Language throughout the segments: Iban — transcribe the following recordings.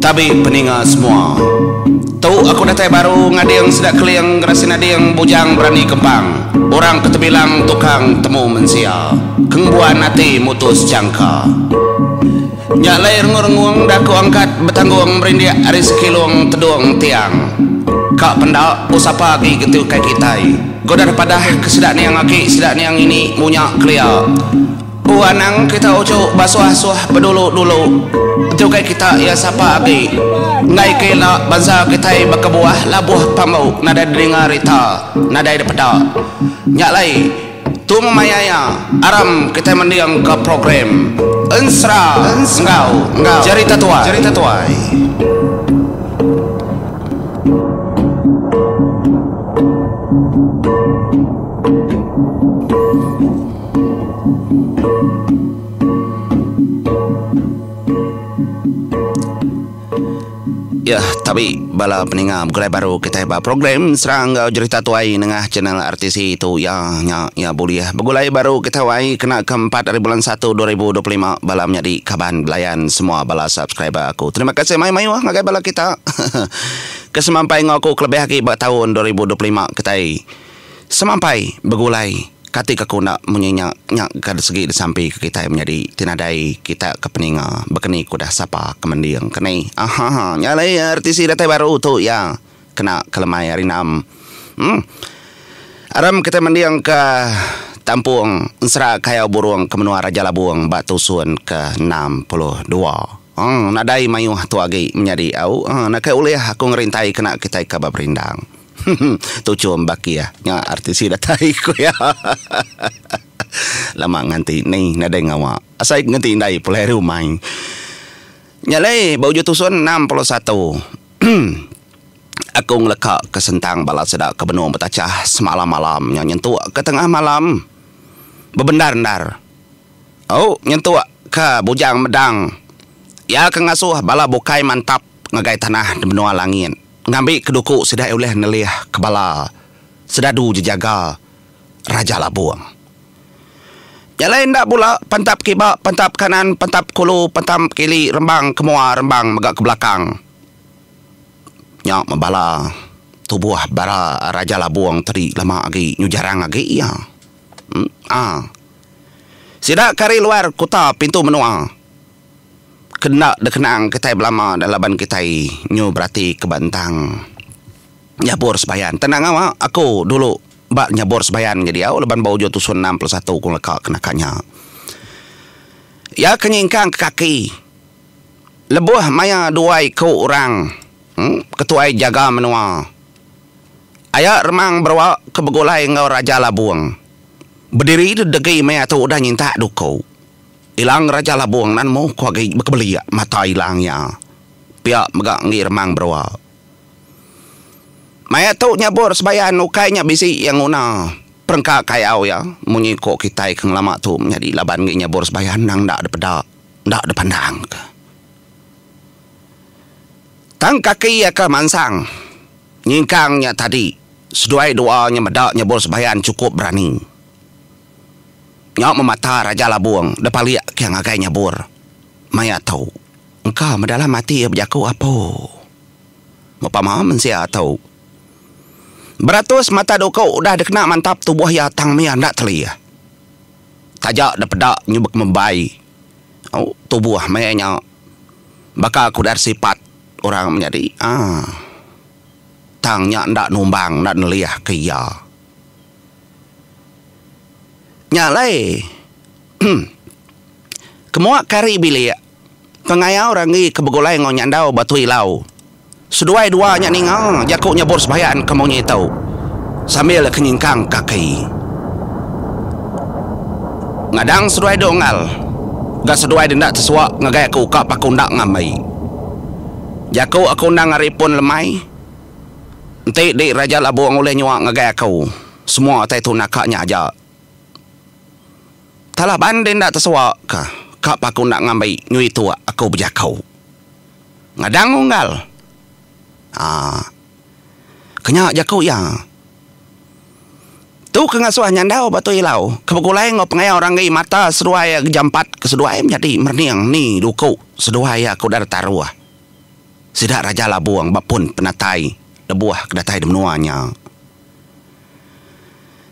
Tabi peninga semua. Tu aku datai baru ngading sida keling gerasin ading bujang berani kempang. Orang ke tebilang tukang temu mensia. Kengbuan ati mutus jangka. Nya alai rengung-rengung enda aku angkat betanggung merindik ari sekilung tedung tiang. Ka penda oh sapa agi ke tukai kitai. Godah padah ke sida niang aki sida niang ini munya kelia. Ku anang kita uchu basuah-suah bedulu-dulu enti ukai kita iya sapa agi enggai ke ila bansa kitai bekebuah labuh pambu nadai didinga rita nadai dipeda nya alai tu memaia iya aram kitai mendingka program ensera enggau jerita tuai. Iya tabi bala peninga begulai baru kitai ba program serang enggau jerita tuai nengah channel RTC tu iya nya iya bulih begulai baru kitai wai kena ke empat ari bulan satu dua ribu dua puluh lima bala menyadi kaban belayan semua bala subscriber aku terima kasih mai mayuh ngagai bala kita ke semampai enggau aku kelebih agi ba taun dua ribu dua puluh lima kitai Semampai begulai, kati ke ku enda munyi nya nya ke disegi disampi ke kitai menyadi ti nadai kita ke peninga bekeni ke udah sapa ke mending ke ni. Ahaha nya alai RTC datai baru tu iya kena ke lemai ari enam. Em. Aram kitai mending ke tampung ensera kayau burung ke menua Raja Labung ba tusun ke enam puluh dua. Eng, nadai mayuh tu agi menyadi au. Eng, nakai ulih aku ngerintai kena kitai ka ba perindang. Hum, tu chum bakih nya RTC datai ku iya. Lama nganti ni nadai ngawa. Asai ke ngenti indai pulai rumai. Nya alai ba uju tusun enam puluh satu. Hum. Aku ngeleka ke sentang bala sida ke benung betachah semalam-malam nya nyentuk ke tengah malam. Bebendar-endar. Au nyentuk ka Bujang Medang. Iya ke ngasuh bala bukai mantap ngagai tanah di menua langit ngambi ke duku sida ulih nelih ke bala Sedadu Jejaga Raja Labong. Nya alai enda bula pantap kiba, pantap kanan, pantap kulu, pantam ke ili, rembang ke mua, rembang mega ke belakang. Nya bala tubuh bara Raja Labong tadi lama agi nyu jarang agi iya. Nya. Sida ke ari luar kuta pintu menua ke enda dikenang kitai belama dah laban kitai nyu berati ke ba entang nyabur sembayan. Tang nangau a aku dulu ba nyabur sembayan nya diau laban ba ujung tusun enam puluh satu aku ngaka ke naka nya. Iya ke nyingkang ke kaki lebuh maya dua iku orang ke tuai jaga menua. Aya Remang Beroa ke begulai enggau Raja Labung. Bediri degi mea tu udah nyintak duku. Ilang Raja Labung nan muh ku agi bekebelik mata ilang iya. Pia mega enggi Remang Beroa. Maya tu nyabur sebayan ukai nya bisi iya nguna perengka kayau iya munyi ku kitai ke ngelama tu menyadi laban enggi nyabur sebayan nang enda dipeda, enda dipandangka. Tang kaki iya ke mansang nyingkang nya tadi seduai doa nya meda nyebul sembahyang chukup berani. Nya memata Raja Labong deh palik ke ngagai nyebur maya tu. Engka meh dalam ati iya bejaku apo. Mepama mensia tu. Beratus mata duku udah dikena mantap tubuh iya tang mih enda telih. Taja deh peda nyubek membai. Au tubuh maya nya baka aku deh sipat orang menyadi aaa tang nya enda numbang enda nelih ke iya. Nya alai emm kemua kari bilik pengayau ranggi ke begulai enggau nyandau batu ilau. Seduai dua nya ninga jaku nyebut sembahyang ke munyi tu sambil ke nyingkang kaki. Ngadang seduai duk engal ga seduai denda tesuwa ngagai aku ka paku enda ngambi. Jaku aku endang ari pun lemai. Enti di Raja Labong ulih nyuwa ngagai aku semua utai tu naka nya aja. Talah ban denda tesuwa ka ka paku enda ngambi nyu itu aku bejaku. Ngadang unggal. Haa. Kenya jaku iya. Tu ke ngasuh nyandau ba tu ilau ke begulai enggau pengawa orang enggi mata seduai iya gejampat ke seduai menyadi merening ni duku seduai iya ke udah deka taruh sida Raja Labong ba pun penatai lebuh ke datai di menua nya.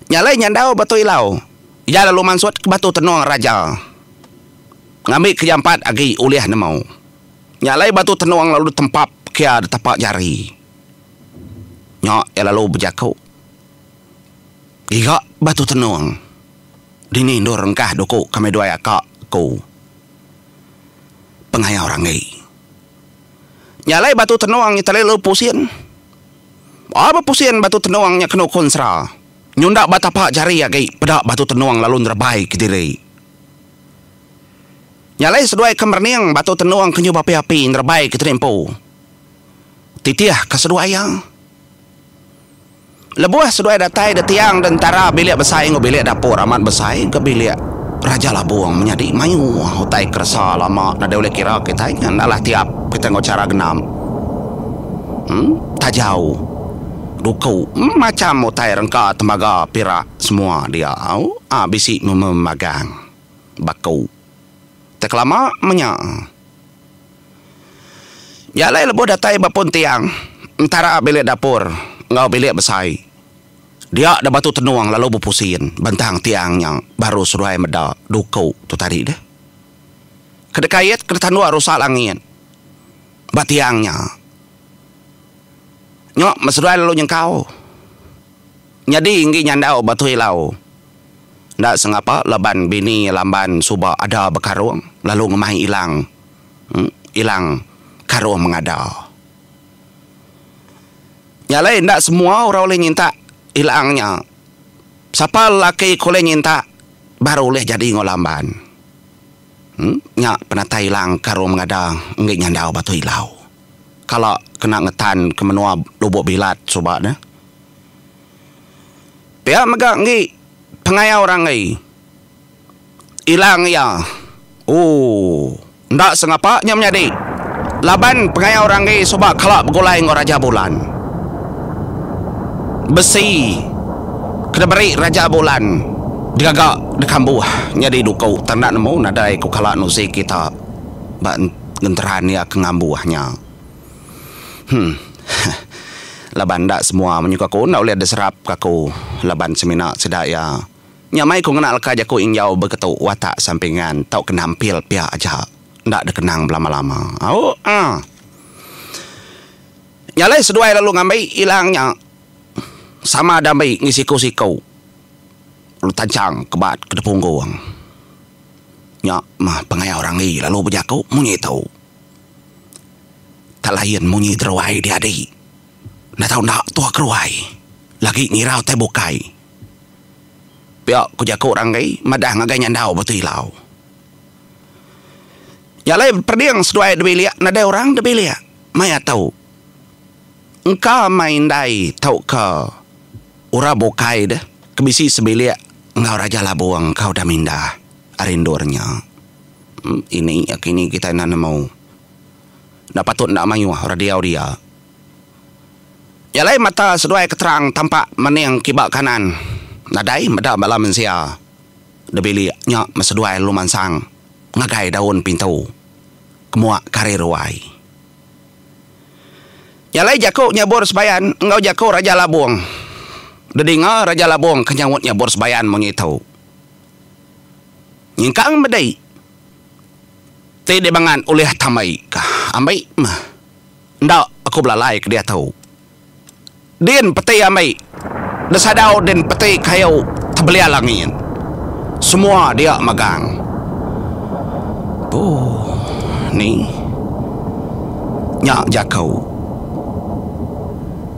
Nya alai nyandau ba tu ilau iya lalu mansut ke batu tenung Raja ngambika jampat agi ulih nemu. Nya alai batu tenung lalu ditempap kia di tapa jari. Nya iya lalu bejaku, Giga batu tenung, dini endur engkah duku kami duai aka ku pengaya orang agi. Nya alai batu tenung nya tadi lalu pusing. Ba bepusing batu tenung nya kenu kunsra, nyunda ba tapa jari agi peda batu tenung lalu nerebai kediri. Nya alai seduai ke merening batu tenung ke nyuh bapi-api nerebai ke tuni empu. Titih ke seduai iya. Lebuh seduai datai ditiang di entara bilik besai enggau bilik dapur amat besai ke bilik Raja Labong menyadi mayuh utai keresa lama nadai ulih kira kitai ngan alah tiap kitai enggau chara genap. Em, tajau, duku, macham utai rengka tembaga pirak. Semua dia au a bisi meme magang ba ku. Te kelama menya. Nya alai lebuh datai ba pun tiang entara bilik dapur enggau bilik besai. Dia da batu tenung lalu bepusin bentang tiang nya baru seduai meda duku tu tadi deh. Ke dekait ke detanduk rusak langit ba tiang nya. Nya me seduai lalu nyengkau. Nyadi enggi nyandau Batu Ilau enda sengapa laban bini Lamban suba ada bekarung lalu ngemai Ilang Ilang karung mengada. Nya alai enda semua orang ulih nyintak Ilang nya. Sapa lelaki ke ulih nyintak baru ulih jadi enggau Lamban. Nya penatai Ilang karung mengada enggi nyandau Batu Ilau. Kala kena ngetan ke menua Lubok Bilat suba ne. Pia mega enggi pengayau ranggai ilang iya. Ooh enda sengapa nya menyadi laban pengayau ranggai suba kala begulai enggau Raja Bulan. Besi ke diberi Raja Bulan digaga dikambuh nyadi duku tang enda nemu nadai ku kala Nuzi kita ba genteran iya ke ngambuh nya. Heh. Laban enda semua menyuka aku enda ulih deserap ke aku laban semina sida iya. Nya mai ku ngena leka jaku ingjau begetu watak sampingan tauka nampil pia aja enda dekenang belama-lama. Au ah. Nya alai seduai lalu ngambi ilang nya sama ada ambi enggih siku-siku lalu tanchang ke bat ke depunggung. Nya mah pengaya orang agi lalu bejaku munyi tu. Tak lain munyi deruai diadi. Enda tau enda tuh keruai. Lagi ngirau tai bukai. Pia ku jaku orang deh, madah ngagai nyandau batu ilau. Nya alai perding seduai da bilik, nadai orang da bilik. Maya tu, engka meh indai tauka orang bukai deh ke bisi sebilik enggau Raja Labong enggau Damindah ari endur nya. Ini aki ni kitai enda nemu. Enda patut enda mayuh orang diau dia. Nya alai mata seduai ke terang tampak mening kiba kanan nadai meda bala mensia da bilik nya meh seduai lalu mansang ngagai daun pintu ke muak kari ruai. Nya alai jaku nyabur sebayan enggau jaku Raja Labong. Dedinga Raja Labong ke nyaut nyabur sebayan munyi tu. Nyengkang bedai ti dibangan ulih tambai ka ambi meh. Enda aku belalai ke diatu. Din peti ambi desadau din peti kayu tebelial angin. Semua dia megang. Ooh ni nya jaku.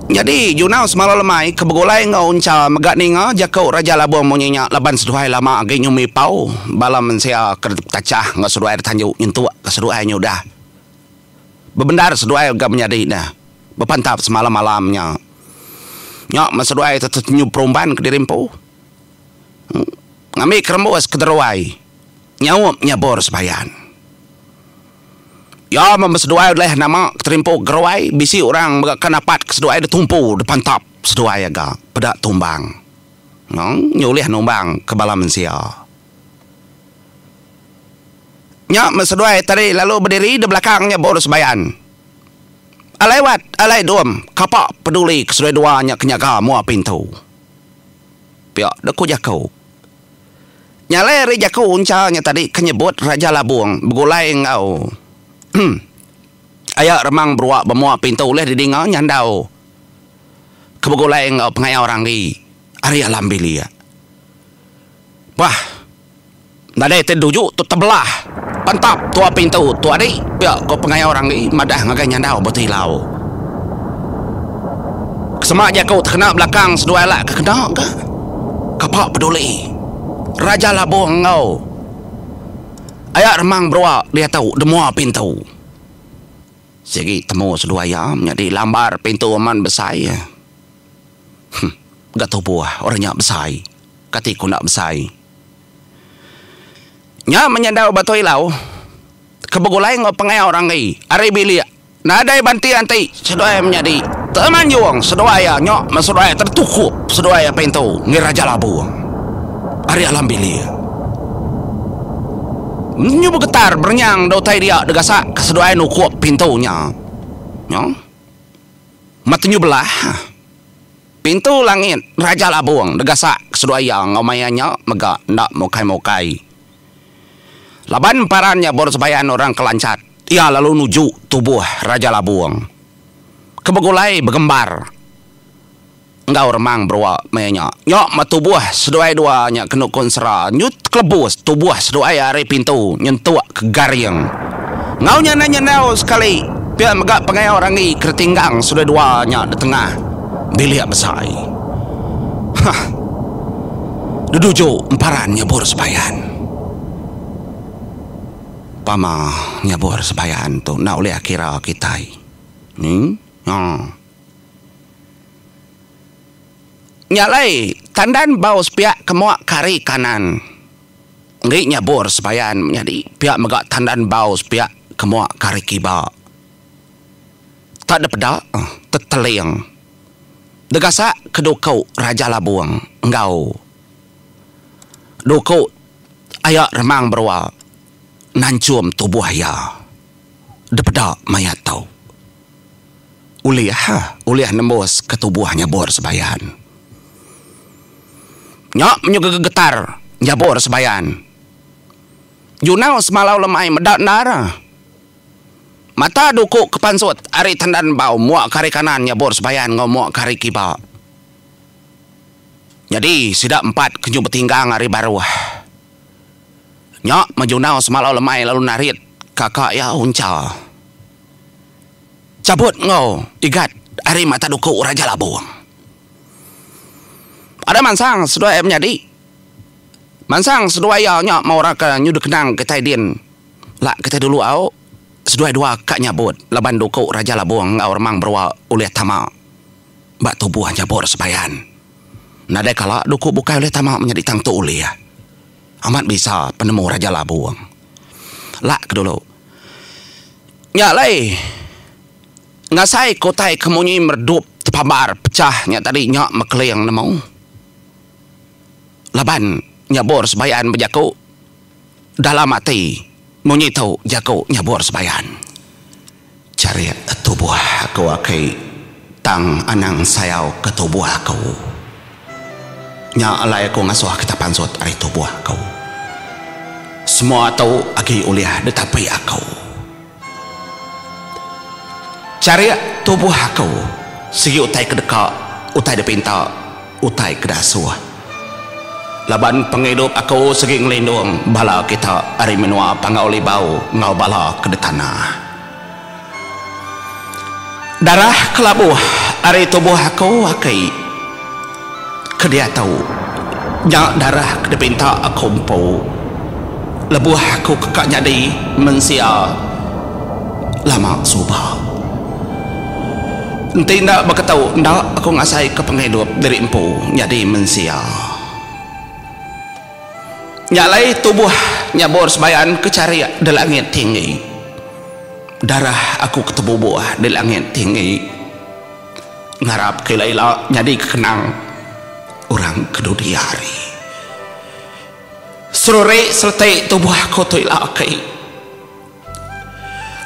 Nyadi, Junau Semalau Lemai ke begulai enggau Uncha mega ninga jaku Raja Labong munyi nya laban seduai lama agi nyumi pau bala mensia ke dipetachah enggau seduai ditanju nyentukka seduai nyudah. Bebendar seduai ga menyadi ne bepantap semalam-malam nya. Nya men seduai tu tetenyu perumban kediri empu ngambika rembus ke deruai nyaup nyabur sebayan. Iya meh ba seduai ulih nama keterimpu geroi bisi orang mega kan apat ke seduai de tumpu de pantap seduai aga peda tumbang nang nyulih numbang ke bala mensia. Nya meh seduai tadi lalu bediri de belakang nya bor sebayan. Alai wat, alai dum, kapa peduli ke seduai dua nya ke nyaga mua pintu. Pia de ku jaku. Nyalai ari jaku uncha nya tadi ke nyebut Raja Labung begulai enggau aya remang berua bemua pintu ulih didinga nyandau ke begulai enggau pengayau ranggi ari alam bilik. Bah nadai ti duju tu tebelah pentap tua pintu tu adi pia ko pengayau ranggi madah ngagai nyandau ba tilau. Sema jaku tekena belakang seduai alak ke kena ka. kapa peduli Raja Labong enggau Ayak Remang Berua diatu di mua pintu. Sigi temu seduai iya menyadi lambar pintu amat besai. Huh, ga tubuh orang nya besai. Kati ku enda besai. Nya menyandau Batui Lau ke begulai enggau pengawa orang agi ari bilik. Nadai banti anti seduai menyadi temanjung seduai iya nya meh seduai tetukup seduai iya pintu ngi Raja Labung ari alam bilik. Nyu begetar berenyang da utai dia degasak ke seduai nukup pintu nya nya meh tenyu belah pintu langit Raja Labung degasak ke seduai iya enggau maya nya mega enda mukai-mukai. Laban emparan nyabur sebayan orang ke lancat, iya lalu nuju tubuh Raja Labung ke begulai begembar enggau remang berua maya nya. Nya meh tubuh seduai dua nya ke nukun sera nyut kelebus tubuh seduai ari pintu nyentuk ke garing. Enggau nya endang nyendau sekali pia mega pengayau Ranggi ke ditinggang seduai dua nya di tengah bilik besai. Huh. Deduju emparan nyebur sebayan. Pama nyebur sebayan tu enda ulih kira kitai. Nya. Nya alai tandan bau sepiak kemuk kari kanan enggi nyebur sebayan menyadi pia mega tandan bau sepiak kemuk kari kiba. Tak da peda teteling degasak ke duku Raja Labung enggau duku aya Remang Berua nanchum tubuh iya da peda maya tu ulih ulih nembus ke tubuh Nyabur Sebayan. Nya menyuka gegetar Nyabur Sebayan. Junau semalau lemai meda endar. Mata duku ke pansut ari tandan embau muak ke ari kanan nyabur sebayan enggau muak ke ari kiba. Nyadi sida empat ke nyu betinggang ari baruh. Nya Majunau semalau lemai lalu narit kaka iya Uncha cabut enggau Igat ari mata duku Raja Labong. Ada mansang seduai iya menyadi. Mansang seduai iya nya mauraka nyu dikenang kitai din. Lak kitai dulu au, seduai dua ka nyabut laban duku Raja Labong enggau Remang Berua ulih tama ba tubuh Jabor Sebayan. Nadai kala duku bukai ulih tama menyadi tang tu ulih. Amat bisa penemu Raja Labong. Lak ke dulu. Nya alai ngasai ke utai ke munyi meredup tepabar pecah nya tadi nya mekeling nemu laban Jabor Sebayan bejaku. dalam ati munyi tu jaku nyabur sembayan. Charit tubuh aku aki tang anang sayau ke tubuh aku. Nya alai aku ngasuh kita pansut ari tubuh aku. Semua tu agi ulih ditapi aku. Charik tubuh aku sigi utai ke deka, utai dipinta, utai ke diasuh. Laban pengidup aku sigi ngelindung bala kita ari menua Panggau Libau enggau bala ke ditanah. Darah ke labuh ari tubuh aku aki. Ke diatu nya darah ke dipinta aku empu lebuh aku ka nyadi mensia lama suba. Enti enda baka tu enda aku ngasaika pengidup diri empu nyadi mensia. Nya alai tubuh nyabur sebayan ke charik di langit tinggi. Darah aku ke tebubuh di langit tinggi. ngarapka ila ila nyadika kenang orang ke dudi hari. Serurik sereti tubuh aku tu ila aki.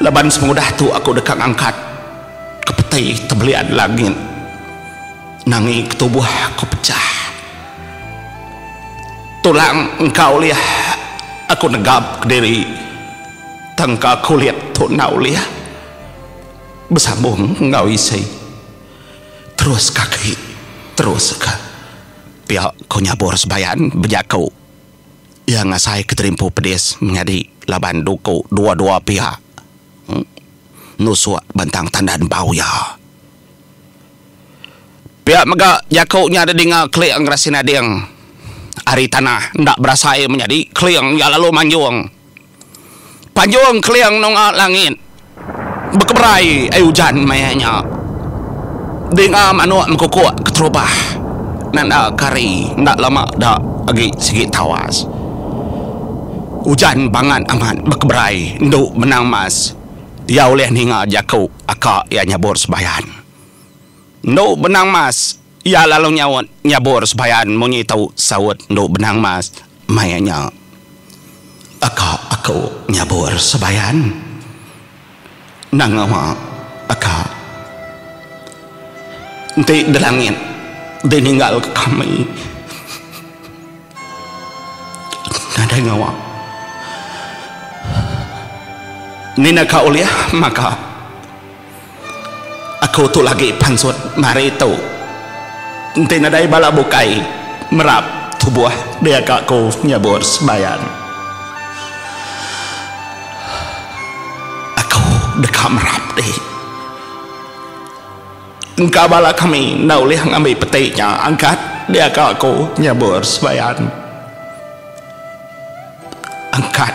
Laban semudah tu aku deka ngangkat ke peti tebelian langit nangi ke tubuh aku pecah. Tulang engka ulih aku negapka diri tangka kulit tu enda ulih. Besambung enggau isi terus kaki terus ka. Pia ko nyabur sebayan bejaku iya ngasai ke terimpu pedis menyadi laban duku dua-dua pia nusuk bentang tandan bau iya. Pia mega jaku nya didinga Keling Gerasin Ading ari tanah enda berasai menyadi Keling iya lalu manjung. Panjung keling nunga langit bekeberai ai ujan maya nya. Dinga manuk mekukuk keterubah nanda kari enda lama da agi sigi tawas. Ujan bangat amat bekeberai endu benang mas iya ulih ninga jaku aka iya nyabur sebayan. Endu Benang Mas, iya lalu nyaut nyabur sebayan munyi tu saut Endu Benang Mas maya nya. Aka aku nyabur sebayan nangama aka enti delangit dininggalka kami nadai ngawa ninaka ulih maka. Aku tu lagi pansut mari tu. Enti nadai bala bukai merap tubuh dia ka aku nyabut sembahyang. Aku deka merap di. Engka bala kami enda ulih ngambi peti nya angkat dia ka aku nyabut sembahyang. Angkat.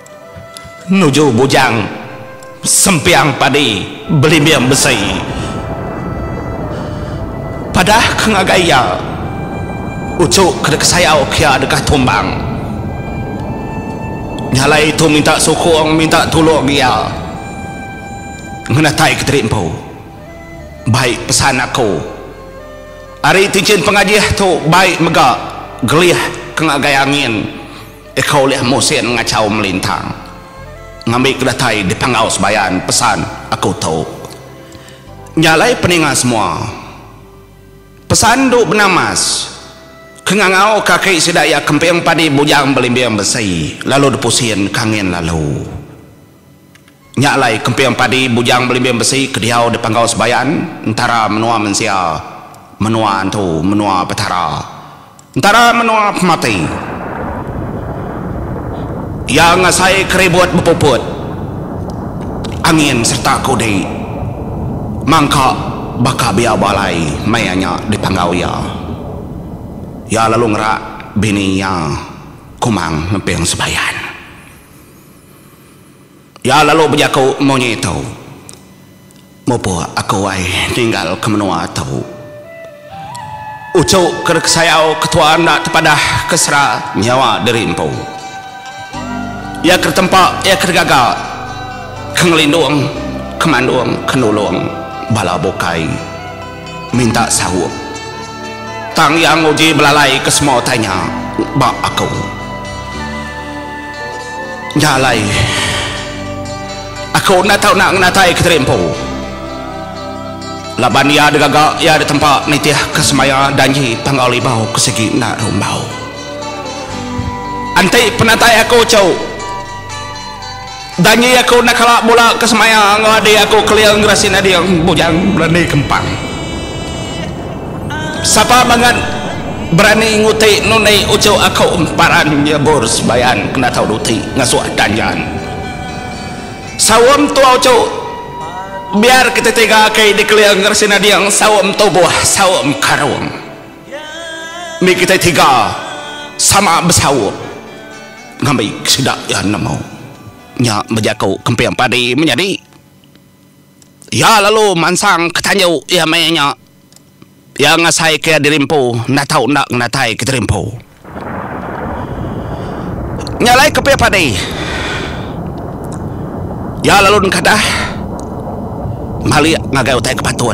Nuju bujang sempiang padi belimbing besi. Padah ke ngagai iya, uchu ke deka sayau ke iya deka tumbang. Nyalai tu minta sukung, minta tulung iya ngenatai ke tadi empu. Bai pesan aku, ari tinchin pengajih tu bai mega gelih ke ngagai angin. Eka ulih musin ngachau melintang ngambi ke datai di panggau sebayan pesan aku tu. Nya alai peninga semua. Pesan endu bena mas. Ke ngangau ke aki sida iya kemping padi bujang belimbing besi lalu dipusin ka angin lalu. Nya alai kemping padi Bujang Belimbing Besi ke diau di Panggau Sebayan, Entara Menua Mensia, Menua Antu, Menua Petara, Entara Menua Pemati. Iya ngasai keribut bepuput, angin sereta kudi mangka baka biau balai maya nya di panggau iya. Iya lalu ngerak bini iya Kumang Ngemping Sebayan. Iya lalu bejaku munyi tu, Mupuk aku ai ninggal ke menua tu. Uchu ke dikesayau ketua enda tepadah ke sera nyawa diri empu. Iya ke ditempa, iya ke digaga, ke ngelindung, ke mandung, ke nulung bala bukai. minta saup. Tang iya nguji belalai ke semua utai nya ba aku. Nya alai aku enda tau nak ngenatai Kiteri Empu laban iya digaga iya ditempa nitih ke semaya danji Panggau Libau ke sigi enda rumbau. Enti penatai aku tu. Janji aku enda kala bula ke semaya enggau adik aku kelia ngerasin adik bujang berani kempang. Sapa bangat berani nguti nundi uchu aku emparan nyebur sembayan kena tau duti ngasuh danjan. Saum tua uchu biar kita tiga aki di kelia ngerasin adik saum tubuh saum karung. Ni kita tiga sama besaup. Ngambi sida iya nemu nya bejaku kemping padi menyadi. Iya lalu mansang ke tanju iya meh nya. Iya ngasai ke diri empu enda tau enda ngenatai ke diri empu. Nya alai kemping padi. Iya lalu nekadah malik ngagai utai ke patut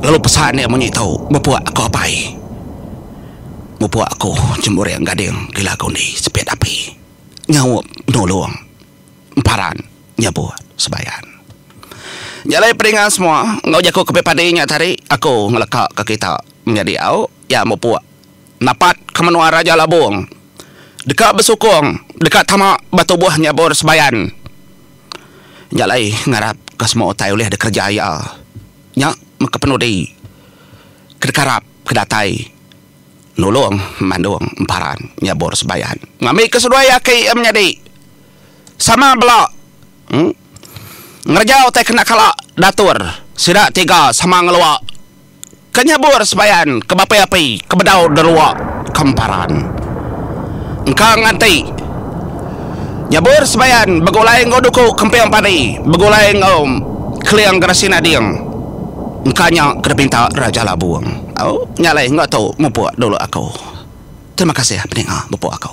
lalu pesan iya munyi tu mepuk aku apai. Mupuk aku cemburing gading di lagu ni sepit api nyaup nulung emparan nyebut sebayan. Jalai pedinga semua enggau jaku ke padi nya tadi aku ngeleka ke kita menyadi au iya mupuk napat ke menua Raja Labong deka besukung deka tama ba tubuh nyebur sebayan jalai ngarap ke semua utai ulih dikereja iya nya meka penudi ke dikarap. ke datai nulung Mandung Emparan nyabur Sebayan ngambi ke seduai aki iya menyadi sama bela ngereja utai kena kala datur sida tiga sama ngelua ke nyabur Sebayan ke bapi api ke bedau derua ke Emparan engka nganti nyabur Sebayan begulai enggau duku kemping padi begulai enggau keling gerasi nading. Engka nya ke dipinta Raja Labung. Au, nya alai engga tu mupuk dulu aku. Terima kasih peninga mupuk aku.